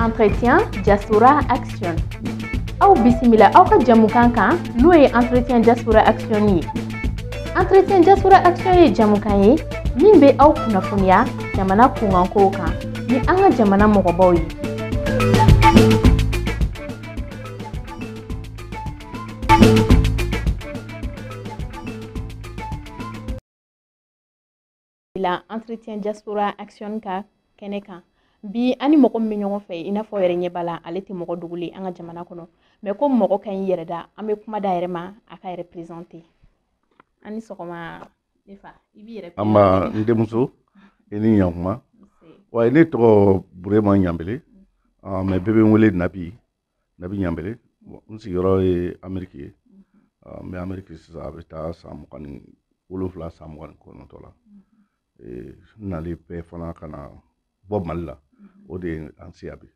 entretien diaspora action aw bisimila aw ka jamukan kan n'o ye entretien diaspora action ye entretien diaspora action ye jamukan ye min bɛ aw kunnafoniya jamana kunkankow kan ni an ka jamana mɔgɔbaw ye la entretien diaspora action ka kɛnɛ kan bi an ni mɔgɔ min bɛ ɲɔgɔn fɛ i n'a fɔ yɛrɛ ɲɛ b'a la ale tɛ mɔgɔ dogolen an ka jamana kɔnɔ mais comme mɔgɔ ka ɲi yɛrɛ da an bɛ kuma d'a yɛrɛ ma a k'a yɛrɛ présenté an ni sɔgɔma ne fa i b'i yɛrɛ an ma n denmuso i ni ɲankuma wa ne tɔgɔ burema ɲanbele mais bɛɛ bɛ n wele nabi nabi ɲanbele n sigiyɔrɔ ye ameriki ye ah, n bɛ ameriki sisan a bɛ taa san mugan ni wolonwula san mugan ni kɔnɔntɔ la eh, n nali bɛɛ fana ka na bɔ mali la o de ye an siya bi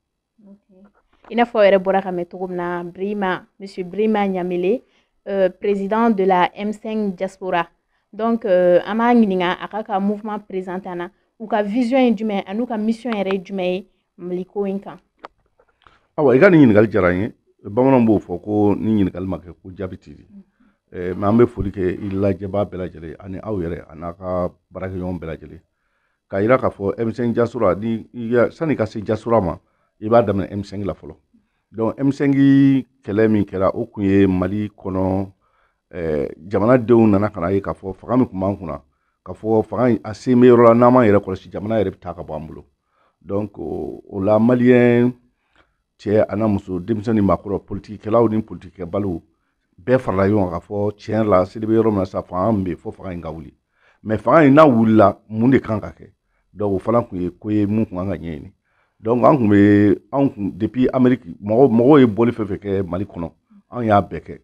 i n'a fɔ yɛrɛ bɔra k'a mɛn cogo min na brima monsieur brima ɲanbele euh, président de la m5 diaspora donc euh, an b'a ɲininka a k'a ka mouvement présenté an na u ka vision ye jumɛn an'u ka mission yɛrɛ ye jumɛn ye mali ko in kan awa i ka nin ɲininkali diyara n ye bamananw b'o fɔ ko ni ɲininkali ma kɛ ko jaabi tɛ di eh, mais an bɛ foli kɛ i lajɛbaa bɛɛ lajɛlen ani aw yɛrɛ an'a ka baarakɛɲɔgɔn bɛɛ lajɛlen k'a yira k'a fɔ m5 diaspora nin sani ka se diaspora ma i b'a daminɛ m5 la fɔlɔ donc m5 kɛlɛ min kɛra o kun ye mali kɔnɔ eh, jamanadenw nana ka n'a ye k'a fɔ fanga min tun b'an kunna k'a fɔ fanga a sen bɛ yɔrɔ la n'an m'an yɛrɛ kɔlɔsi jamana yɛrɛ bɛ taa ka bɔ an bolo donc o la maliyɛn cɛ an'a muso denmisɛn ni maakɔrɔ politikikɛlaw ni politikikɛbaliw bɛɛ farala ɲɔgɔn kan k'a fɔ tiɲɛ la selen bɛ yɔrɔ min na sa fanga min bɛ fɔ fanga in ka wuli mais fanga in n'a wulila mun de kan ka kɛ donc o fana tun ye ko ye min tun kan ka ɲɛɲini donc an tun bɛ anw kun depuis ameriki mɔgɔ mɔgɔw ye bɔli fɛn fɛn kɛ mali kɔnɔ anw y'a bɛɛ kɛ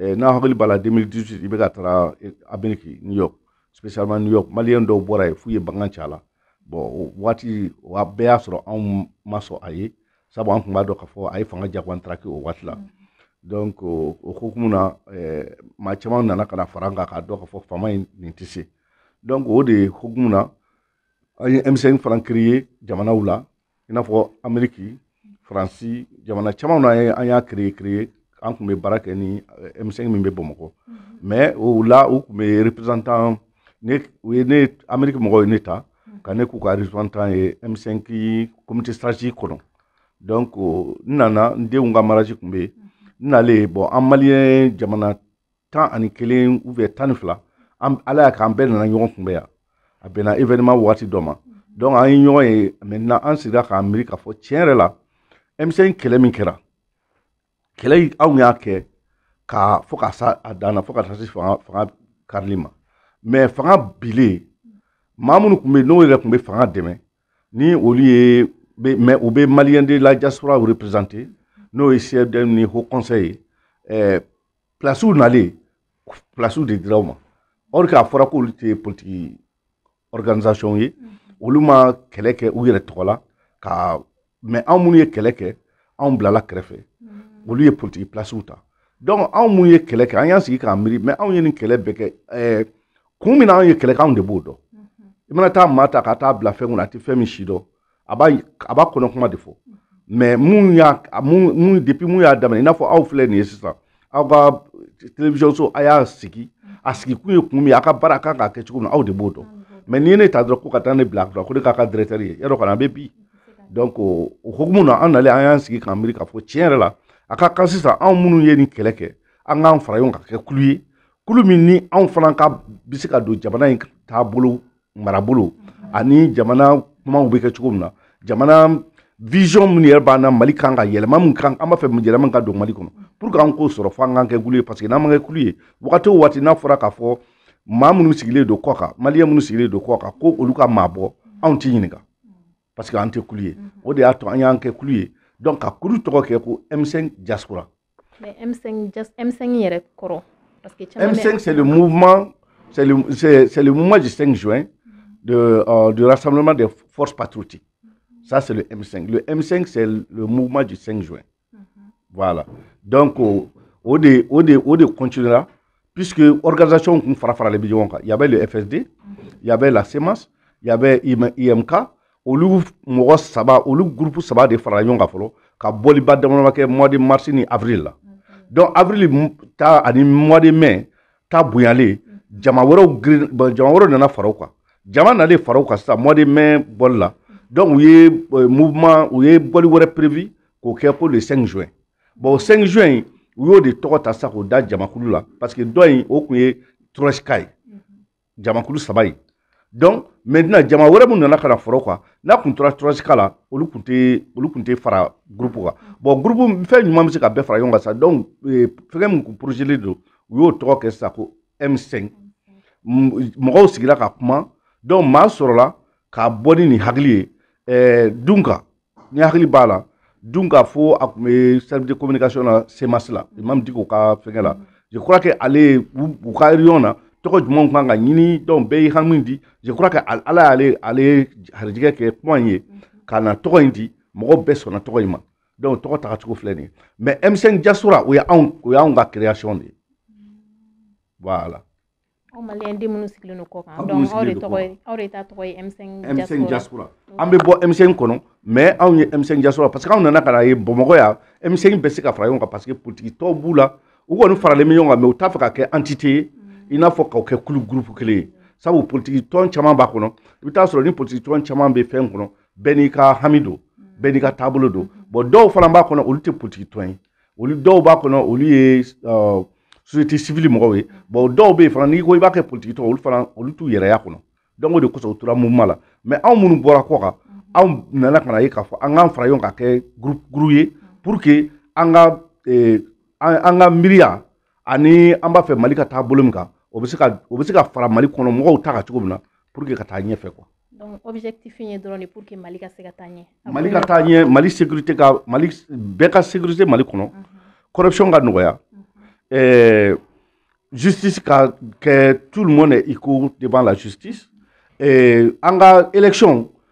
eh, n'a hakili b'a la 2018 ibk taara ameriki new york spécialement new york maliyɛn dɔw bɔra yen f'u ye bangan ci a la bon o waati o bɛɛ y'a sɔrɔ anw ma sɔn a ye sabu an tun b'a dɔn k'a fɔ a ye fanga jagoyantaraki o waati la mm. donc o hukumu na eh, maa caman nana ka na fara an kan k'a dɔn k'a fɔ faama in nin tɛ se donc o de hukumu na an ye m5 fana créé jamanaw la i n'a fɔ ameriki faransi jamana caman na an y'a créé créé an tun bɛ baara kɛ ni eh, M5 min bɛ Bamakɔ mais o la u tun bɛ représentant ne u ye ne ameriki mɔgɔw ye ne ta ka ne k'u ka représentant ye M5 comité stratégique kɔnɔ donc n nana n denw ka mariage tun bɛ yen n nalen bon an maliyɛn jamana tan ani kelen ou bien tan ni fila an ala y'a kɛ an bɛɛ nana ɲɔgɔn kunbɛn yan a bɛnna événement waati dɔ ma donc an ye ɲɔgɔn ye maintenant an sigira k'an miiri k'a fɔ tiɲɛ yɛrɛ la M5 kɛlɛ min kɛra kɛlɛ anw y'a kɛ ka fo ka se a dan na fo ka taa se fanga fanga karili ma mais fanga binnen maa minnu tun bɛ yen n'o yɛrɛ tun bɛ fanga dɛmɛ ni olu ye mais u bɛ maliyɛn de la diaspora représenter n'o ye CSDM ni haut conseil ye ɛɛ plasiw nalen plasiw de dira u ma or que a fɔra k'olu tɛ politiki organisation ye mhm. olu ma kɛlɛ kɛ u yɛrɛ tɔgɔ la mais anw minnu ye kɛlɛ kɛ anw bilala kɛrɛfɛ mhm. olu ye politiki plasiw ta donc anw minnu ye kɛlɛ kɛ an y'an sigi k'an miiri mais anw ye nin kɛlɛ bɛɛ kɛ eh, kun min na anw ye kɛlɛ kɛ anw de b'o dɔn mhm. i mana taa maa ta ka taa bila fɛn kunna a tɛ fɛn min si dɔn a b'a a b'a kɔnɔ kuma de fɔ mais mun y'a mun depuis mun y'a daminɛ i n'a fɔ aw filɛ nin ye sisan aw ka télévision so a y'a sigi a sigi kun ye kun min a ka baara kan ka kɛ cogo min aw de b'o dɔn mais n'i ye ne ta dɔrɔn ko ka taa ne bila a ko ne k'a ka directeur ye yɔrɔ kɔni a bɛ bin donc o hukumu na an nalen an y'an sigi k'an miiri k'a fɔ tiɲɛ yɛrɛ la a ka kan sisan anw minnu ye nin kɛlɛ kɛ an k'an fara ɲɔgɔn kan ka kɛ kulu ye kulu min ni anw fana ka bɛ se ka don jamana in taabolo marabolo ani jamana kumaw bɛ kɛ cogo min na jamana vision minnu yɛrɛ b'an na mali kan ka yɛlɛma min kan an b'a fɛ yɛlɛma ka don mali kɔnɔ pour que an k'o sɔrɔ fo an k'an kɛ kulu ye parce que n'an ma kɛ kulu ye waati o waati n'a fɔra k'a fɔ maa minnu sigilen don kɔ kan maliyɛn minnu sigilen don kɔ kan ko olu ka maa bɔ anw tɛ ɲininka parce que an tɛ kulu ye mhm. o de y'a to an y'an kɛ kulu ye donc ka kulu tɔgɔ kɛ ko M5 diaspora mais M5 M5 yɛrɛ kɔrɔ parce que M5 c'est le mouvement c'est le c'est le mouvement du 5 juin de euh, du rassemblement des forces patriotiques ça c'est le M5 le M5 c'est le mouvement du 5 juin voilà donc o de o de o de continuera puisque organisation kun fara faralen bɛ ɲɔgɔn kan y avait le FSD y avait la CMAS y avait EMK olu mɔgɔ saba olu groupe saba de farala ɲɔgɔn kan fɔlɔ ka bɔliba damadama kɛ mois de mars ni avril la donc avril ta ani mois de mai ta bonyalen jama wɛrɛw girin bon jama wɛrɛw nana fara u kan jama nalen fara u kan sisan mois de mai bɔli la donc u ye euh, mouvement u ye bɔli wɛrɛ prévu k'o kɛ ko le 5 juin bon o 5 juin in u y'o de tɔgɔ ta sisan k'o da jamakulu la parce que dɔ in o tun ye troïka ye jamakulu saba in donc maintenant jama wɛrɛ mun nana ka na fara u kan n'a kun tora troïka la olu kun tɛ olu kun tɛ fara groupe kan bon groupe fɛn jumɛn bɛ se ka bɛɛ fara ɲɔgɔn kan sa donc eh, fɛngɛ mun kun porozelen don u y'o tɔgɔ kɛ sisan ko m5 mɔgɔw sigira ka kuma donc maa sɔrɔla k'a bɔ ni nin hakili ye eh, dun kan ne hakili b'a la dun k'a fɔ a tun bɛ service de communication na CMAS la imam Dicko ka fɛngɛ la je crois que ale u ka réunion na tɔgɔ jumɛnw kan ka ɲini donc bɛɛ y'i hami di je crois que ala y'ale ale harijigɛ kɛ kuma in ye ka na tɔgɔ in di mɔgɔ bɛɛ sɔnna tɔgɔ in ma donc tɔgɔ taga cogo filɛ nin ye mais M5 diaspora o y'anw o y'anw ka création de ye voilà aw maliyɛn den minnu sigilen don kɔ kan Aw minnu donc aw de sigilen don tɔgɔ kɔ ye aw de ta tɔgɔ ye M5 M5 diaspora diaspora an bɛ bɔ M5 kɔnɔ mais anw ye M5 diaspora parce que anw nana ka na ye Bamakɔ yan M5 bɛ se ka fara ɲɔgɔn kan parce que politique tɔnw b'u la u kɔni faralen bɛ ɲɔgɔn kan mais u t'a fɛ ka kɛ entité ye i n'a fɔ ka kɛ kulu groupe kelen ye sabu politique tɔn caman b'a kɔnɔ i bɛ taa sɔrɔ ni politique tɔn caman bɛ fɛn kɔnɔ bɛɛ n'i ka hami don bɛɛ n'i ka taabolo don bon dɔw fana b'a kɔnɔ olu tɛ politique tɔn ye olu dɔw b'a kɔnɔ olu ye société civile mɔgɔw ye bon dɔw bɛ yen fana n'i ko i b'a kɛ politiki tɔn olu fana olu t'u yɛrɛ ye a kɔnɔ donc o de kosɔn u tora mouvement la mais anw minnu bɔra kɔ kan anw nana ka na ye k'a fɔ an k'an fara ɲɔgɔn ka kɛ groupe groupe ye pour que an ka an ka miiriya ani an b'a fɛ mali ka taa bolo min kan o bɛ se ka o bɛ se ka fara mali kɔnɔ mɔgɔw ta kan cogo min na pour que ka taa ɲɛfɛ quoi donc objectif ye dɔrɔn de pour que mali ka se ka taa ɲɛ mali ka taa ɲɛ mali sécurité ka mali bɛɛ ka sécurité mali kɔnɔ mhm. corruption ka nɔgɔya mhm. eh, justice ka kɛ tout le monde est égaux devant la justice eh, an ka élection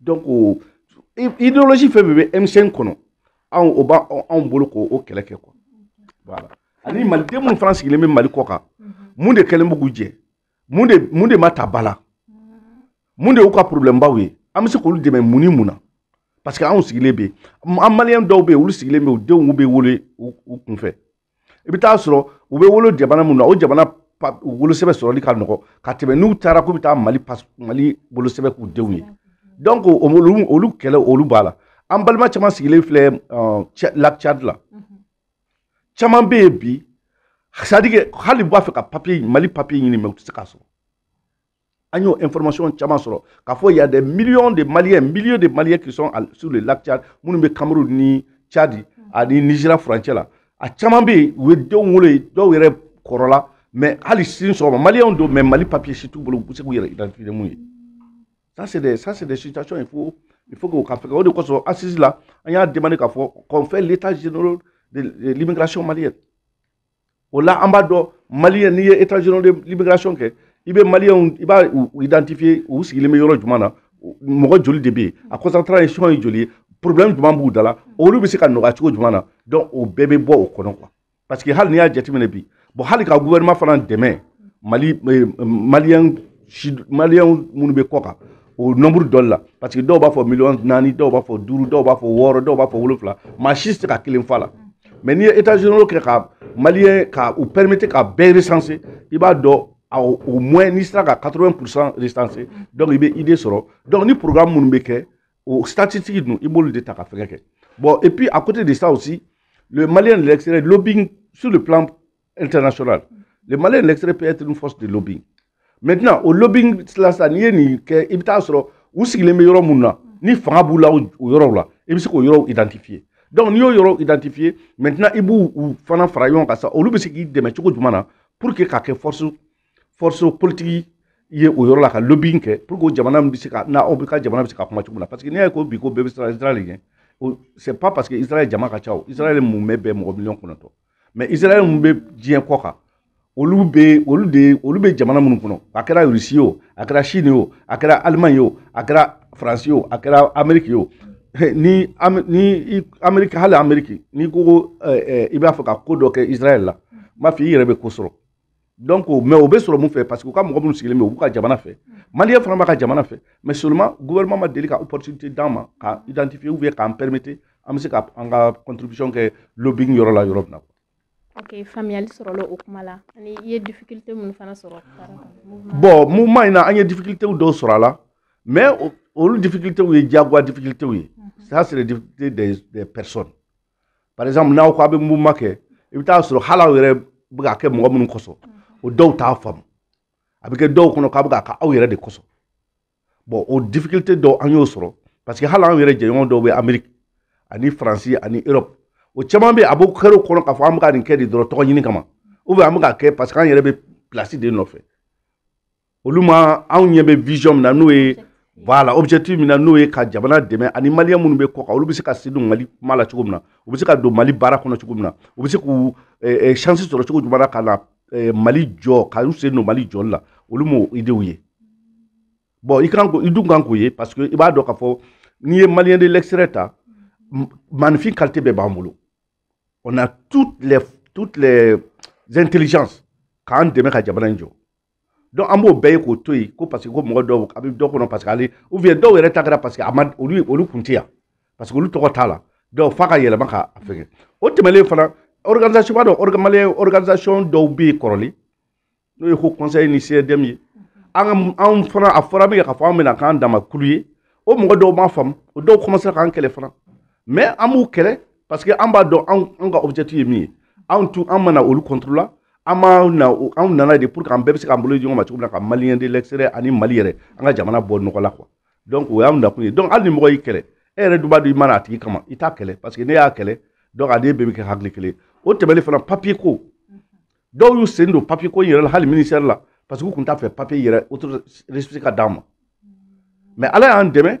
donc idéologie fɛn fɛn bɛ M5 kɔnɔ anw o b'anw bolo k'o kɛlɛ kɛ quoi voilà ani maliden minnu fana sigilen bɛ mali kɔ kan mun de kɛlen bɛ k'u jɛ mun de mun de ma ta ba la mun de y'u ka problème baw ye an bɛ se k'olu dɛmɛ mun ni mun na parce que anw sigilen bɛ yen an maliyɛn dɔw bɛ yen olu sigilen bɛ yen u denw bɛ wolo u kunfɛ i bɛ taa sɔrɔ u bɛ wolo jamana min na o jamana wolosɛbɛn sɔrɔli ka nɔgɔ ka tɛmɛ n'u taara k'u bɛ taa mali mali wolosɛbɛn k'u denw ye donc olu olu kɛlɛ olu b'a la an balima caman sigilen filɛ lac tchad la caman bɛ yen bi c'est-à-dire que hali b'a fɛ ka papier mali papier ɲini mais u tɛ se k'a sɔrɔ an y'o information caman sɔrɔ k'a fɔ y'a des millions de maliens milliers de maliens qui sont sur le lac tchad minnu bɛ cameroun ni tchadi ani nigeria furancɛ la a caman bɛ yen u ye denw wolo yen dɔw yɛrɛ kɔrɔla mais hali sini sɔgɔma maliens don mais mali papier si t'u bolo u bɛ se k'u yɛrɛ identifier min ye ça c'est des ça c'est des situations il faut il faut k'o ka fɛngɛ o de kosɔn assise la an y'a demander k'a fɔ qu'on fait l'état général de l'immigration malienne o la an b'a dɔn maliyɛn n'i ye état général de l'immigration kɛ i bɛ maliyɛnw i b'u identifier u sigilen bɛ yɔrɔ jumɛn na mɔgɔ joli de bɛ yen a concentration ye joli ye problème jumɛn b'u da la olu bɛ se ka nɔgɔya cogo jumɛn na donc o bɛɛ bɛ bɔ o kɔnɔ quoi parce que hali n'i y'a jateminɛ bi bon hali ka gouvernement fana dɛmɛ mali maliyɛn maliyɛnw minnu bɛ kɔ kan o nombre dɔ la parce que dɔw b'a fɔ miliyɔn naani dɔw b'a fɔ duuru dɔw b'a fɔ wɔɔrɔ dɔw b'a fɔ wolonfila maa si tɛ se ka kelen f'a la mais n'i ye états généraux kɛ ka maliyɛn ka u permettre ka bɛɛ recenser i b'a dɔn au moins n'i sera ka 80 pourcent recenser donc i bɛ idée sɔrɔ donc ni programme minnu bɛ kɛ o statistique ninnu i b'olu de ta ka fɛngɛ kɛ bon et puis à côté de ça aussi le malien de l'extérieur lobbying sur le plan international le malien de l'extérieur peut être une force de lobbying maintenant o lobbying la sa n'i ye nin kɛ i bɛ taa sɔrɔ u sigilen bɛ yɔrɔ mun na ni fanga b'u la o yɔrɔw la i bɛ se k'o yɔrɔw identifier donc n'i y'o yɔrɔw identifier maintenant i b'u u fana fara ɲɔgɔn kan sa olu bɛ se k'i dɛmɛ cogo jumɛn na pour que ka kɛ force force politique ye o yɔrɔ la ka lobbying kɛ pour que jamana bɛ se ka na ou bien ka jamana bɛ se ka kuma cogo min na parce que n'i y'a ye ko bi ko bɛɛ bɛ siran israel ɲɛ c'est pas parce que israel jama ka ca o israel mun bɛ bɛn mɔgɔ miliyɔn kɔnɔntɔn mais israɛl mun bɛ diɲɛ kɔ kan olu bɛ olu de olu bɛ jamana minnu kɔnɔ a kɛra rusi ye o a kɛra chine ye o a kɛra allemagne ye o a kɛra faransi ye o a kɛra ameriki ye o ni ni ameriki hali ameriki n'i ko ko i b'a fɛ ka ko dɔ kɛ israɛl la n b'a fɔ i yɛrɛ bɛ ko sɔrɔ donc mais o bɛ sɔrɔ mun fɛ parce que u ka mɔgɔ minnu sigilen bɛ u b'u ka jamana fɛ maliyɛn fana b'a ka jamana fɛ mais seulement gouvernement ma deli ka opportunité d'an ma ka identifier ou bien k'an permettre an bɛ se ka an ka contribution kɛ lobbying yɔrɔ la yɔrɔ min na ok faamuyali sɔrɔla o kuma la ani i ye difficulté minnu fana sɔrɔ bon mouvement in na an ye difficulté dɔw sɔrɔ a la mais olu difficulté ye diyagoya difficulté ye ça c'est les difficultés des, des personnes par exemple n'aw ko a bɛ mouvement kɛ i bɛ taa sɔrɔ hali aw yɛrɛ bɛ ka kɛ mɔgɔ minnu kosɔn o dɔw t'a faamu a bɛ kɛ dɔw kɔnɔ k'a bɛ ka kɛ aw yɛrɛ de kosɔn bon o difficulté dɔw an y'o sɔrɔ parce que hali anw yɛrɛ jɛɲɔgɔn dɔw bɛ amerique ani faransi ani europe o caman bɛ a b'o kɛr'o kɔnɔ k'a fɔ an bɛ ka nin kɛ de dɔrɔn tɔgɔ ɲini kama ou bien an bɛ ka kɛ parce que an yɛrɛ bɛ place de nɔfɛ olu ma anw ɲɛ bɛ vision min na n'o ye voilà objectif min na n'o ye ka jamana dɛmɛ ani maliyɛn minnu bɛ kɔ kan olu bɛ se ka sen don mali kuma la cogo min na u bɛ se ka don mali baara kɔnɔ cogo min na u bɛ se k'u eh, eh, chance sɔrɔ cogo jumɛn na ka na eh, mali jɔ ka u sen don mali jɔli la olu m'o idew ye bon i kan ko i dun kan k'o ye parce que i b'a dɔn k'a fɔ n'i ye maliyɛn de l'extérieur ta magnifique qualité bɛɛ b'an bolo on a toutes les toutes les intelligences k'an dɛmɛ ka jamana in jɔ donc an b'o bɛɛ ye k'o to yen ko parce que ko mɔgɔ dɔw a bɛ dɔ kɔnɔ parce que ale ou bien dɔw yɛrɛ ta kɛra parce que a ma olu olu kun tɛ yan parce que olu tɔgɔ t'a la donc f'a ka yɛlɛma ka a fɛngɛ o tɛmɛnen fana organisation b'a dɔn organi malien organisation dɔw bɛ yen kɔrɔlen n'o ye haut conseil ni CDM ye an ka anw fana a fɔra min kɛ k'a fɔ an bɛna k'an dama kulu ye o mɔgɔ dɔw m'a faamu o dɔw commencera k'an kɛlɛ fana mais an b'u kɛlɛ parce que an b'a dɔn anw ka objectif ye min ye anw tun an ma na olu contre la an b'a na anw nana de pour que an bɛɛ bɛ se k'an bolo di ɲɔgɔn ma cogo min na ka maliyɛn de l'extérieur ani mali yɛrɛ an ka jamana bɔ nɔgɔ la quoi donc o y'an nakun ye donc hali ni mɔgɔ y'i kɛlɛ e yɛrɛ dun b'a dɔn i ma na a tigi kama i t'a kɛlɛ parce que n'e y'a kɛlɛ donc a n'e bɛɛ bɛ kɛ hakili kelen o tɛmɛnen fana papier ko dɔw y'u sen don papier ko in yɛrɛ la hali ministère la parce que u tun t'a fɛ papier yɛrɛ récépissé ka d'an ma mais ala y'an dɛmɛ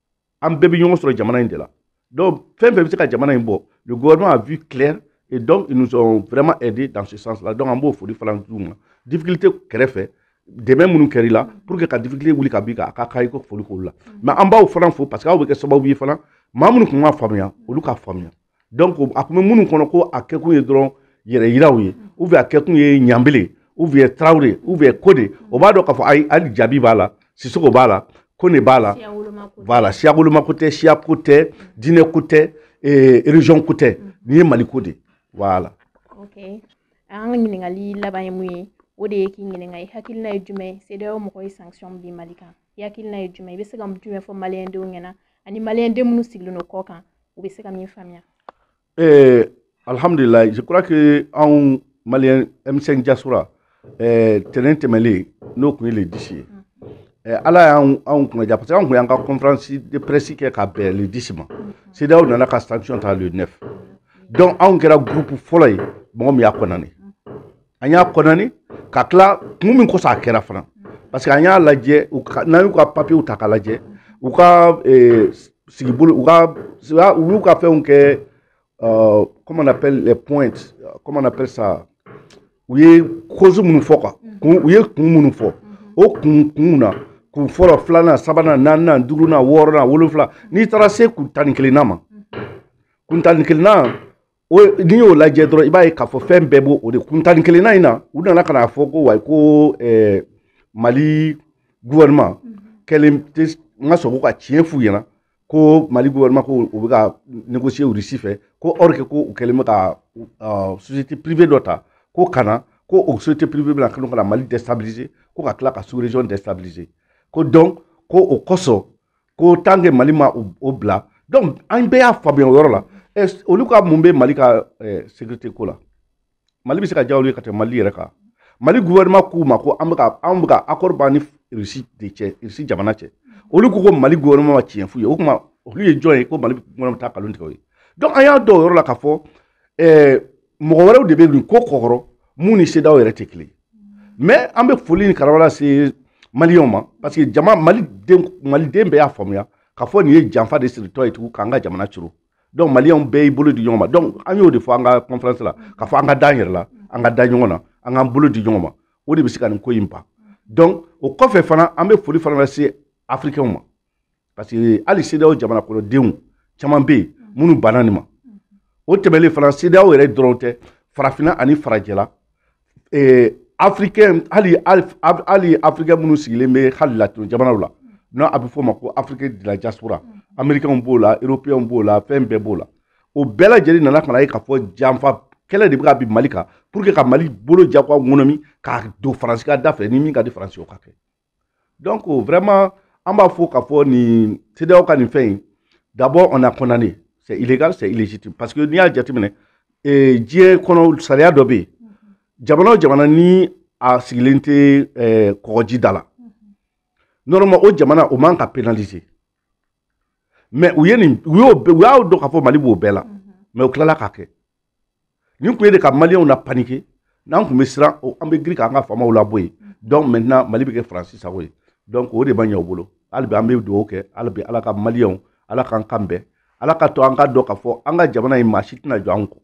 an bɛɛ bɛ ɲɔgɔn sɔrɔ jamana in de la donc fɛn fɛn bɛ se ka jamana in bɔ le gouvernement a vu clair et donc ils nous ont vraiment aidé dans ce sens là donc an b'o foli fana d'u ma difficulté kɛrɛfɛ dɛmɛ minnu kɛra i la pour que ka difficulté wuli ka b'i kan a ka kan i k'o foli k'olu la mais an b'aw fana fo parce que aw bɛ kɛ sababu ye fana maa minnu tun m'a faamuya olu k'a faamuya donc a tun bɛ minnu kɔnɔ ko a kɛkun ye dɔrɔn yɛrɛ yiraw ye ou bien a kɛkun ye ɲanbele ou bien tarawele ou bien ko de o b'a dɔn k'a fɔ ayi hali jabi b'a la sisoko b'a la kɔnɛ b'a la voilà siyawoloma ko tɛ siya ko tɛ diinɛ ko tɛ région ko tɛ nin ye mali ko de voilà okay. an ka ɲininkali laban ye mun ye o de ye k'i ɲininka i hakilina ye jumɛn ye cedeao mɔgɔw ye sanction bin mali kan i hakilina ye jumɛn i bɛ se ka jumɛn fɔ maliyɛndenw ɲɛna ani maliyɛnden minnu sigilen don kɔkan u bɛ se ka min faamuya ee eh, alhamdulilayi je crois que anw maliyɛn m5 diaspora eh, tɛnɛn tɛmɛlen n'o tun ye le 10 ye eh, ala y'anw anw kunnaja parce que anw tun y'an ka conférence de presse kɛ ka bɛn le 10 ma cedeao nana ka sanction ta le 9 donc anw kɛra groupe fɔlɔ ye mɔgɔ min y'a condamné an y'a condamné ka tila kun min kosɔn a kɛra fana parce que an y'a lajɛ n'an y'u ka papiyew ta k'a lajɛ u ka eh, sigibolo u ka u y'u ka fɛnw kɛ euh, comment on appelle les points comment on appelle ça u ye cause minnu fɔ quoi kun u ye kun minnu fɔ o kun kunw na kun fɔlɔ filanan sabanan naaninan duurunan wɔɔrɔnan wolonfila n'i taara se kun tan ni kelennan ma kun tan ni kelennan o n'i y'o lajɛ dɔrɔn i b'a ye k'a fɔ fɛn bɛɛ b'o o de kun tan ni kelennan in na u nana ka n'a fɔ ko wayi ko eh, mali gouvernement mhm. kɛlen tɛ ka sɔn ko ka tiɲɛ f'u ɲɛna ko mali gouvernement ko u bɛ ka négocier russie fɛ ko or que ko u kɛlen bɛ ka uh, société privée dɔ ta ko ka na ko o société privée bɛna kɛlen ka na mali déstabiliser ko ka tila ka sous région déstabiliser ko donc ko o kosɔn ko tant que mali ma o bila donc an bɛɛ y'a faamuya o yɔrɔ la olu ka mun bɛ mali ka sécurité ko la mali bɛ se ka diya olu ye ka tɛmɛ mali yɛrɛ kan mali gouvernement k'u ma ko an bɛ ka an bɛ ka accord b'an ni russie de cɛ russie jamana cɛ olu ko ko mali gouvernement ma tiɲɛ f'u ye o tuma olu ye jɔn ye ko mali gouvernement bɛ taa nkalon tigɛ o ye donc an y'a dɔn o yɔrɔ la k'a fɔ mɔgɔ wɛrɛw de bɛ nin ko kɔkɔrɔ mun ni CEDEAO yɛrɛ tɛ kelen mais an bɛ foli ni karama lase maliyɛnw ma parce que jama maliden maliden bɛɛ y'a faamuya k'a fɔ nin ye janfa de siritɔ ye tugun k'an ka jamana curu donc maliyɛnw bɛɛ y'i bolo di ɲɔgɔn ma donc an y'o de fɔ an ka conférence la k'a fɔ an ka da an yɛrɛ la an ka da ɲɔgɔn na an k'an bolo di ɲɔgɔn ma o de bɛ se ka nin ko in ban donc o kɔfɛ fana an bɛ foli fana lase africainw ma parce que hali CEDEAO jamana kɔnɔdenw caman bɛ yen minnu banna nin ma o tɛmɛlen fana CEDEAO yɛrɛ dɔrɔn tɛ farafinna ani farajɛla eh, africain hali hali africain minnu sigilen bɛ hali latino jamanaw la n'a a bɛ fɔ o ma ko afrique de la diaspora américainw b'o la européenw b'o la fɛn bɛɛ b'o la o bɛɛ lajɛlen nana ka n'a ye k'a fɔ janfa kɛlɛ de bɛ ka bin mali kan pour que ka mali bolo jagoya ŋɔnɔmi k'a don faransi ka da fɛ ni min ka di faransi o ka kɛ donc vraiment an b'a fɔ k'a fɔ nin CEDEAO ka nin fɛn in d'abord on a condamné c'est illégal c'est illégitime parce que n'i y'a jateminɛ eh, diɲɛ kɔnɔ sariya dɔ bɛ yen jamana o jamana ni a sigilen tɛ eh, kɔgɔji da la normalement o jamana o man ka pénaliser mais u ye nin u y'o u y'a dɔn k'a fɔ mali b'o bɛɛ la mais u tilala k'a kɛ nin kun ye de ka maliyɛnw na paniquer n'an tun bɛ siran an bɛ girin k'an ka faamaw labɔ yen donc maintenant mali bɛ kɛ faransi sago ye donc o de ma ɲɛ u bolo hali bi an bɛ dugawu kɛ hali bi ala ka maliyɛnw ala k'an kan bɛn ala k'a to an k'a dɔn k'a fɔ an ka jamana in maa si tɛna jɔ an kɔ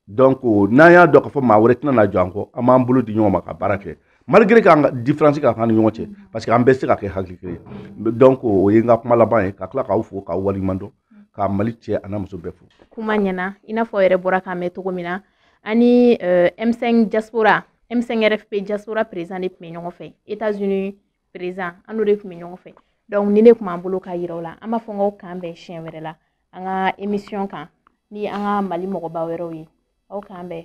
donc n'an y'a dɔn k'a fɔ maa wɛrɛ tɛna na jɔ an kɔ an b'an bolo di ɲɔgɔn ma ka baara kɛ malgré k'an ka différence ka ca an ni ɲɔgɔn cɛ parce que an bɛɛ se ka kɛ hakili kelen ye donc o ye n ka kuma laban ye ka tila k'aw fo k'aw waleɲuman dɔn ka mali cɛ a n'a muso bɛɛ fo kuma ɲɛna i n'a fɔ yɛrɛ bɔra k'a mɛn cogo min na an ni eh, m5 diaspora m5 rfp diaspora président de tun bɛ ɲɔgɔn fɛ états unis président an n'o de tun bɛ ɲɔgɔn fɛ donc nin de tun b'an bolo k'a yira aw la an b'a fɔ n k'aw k'an bɛn siɲɛ wɛrɛ la an ka émission kan ni an ka mali mɔgɔba wɛrɛw ye aw k'an bɛn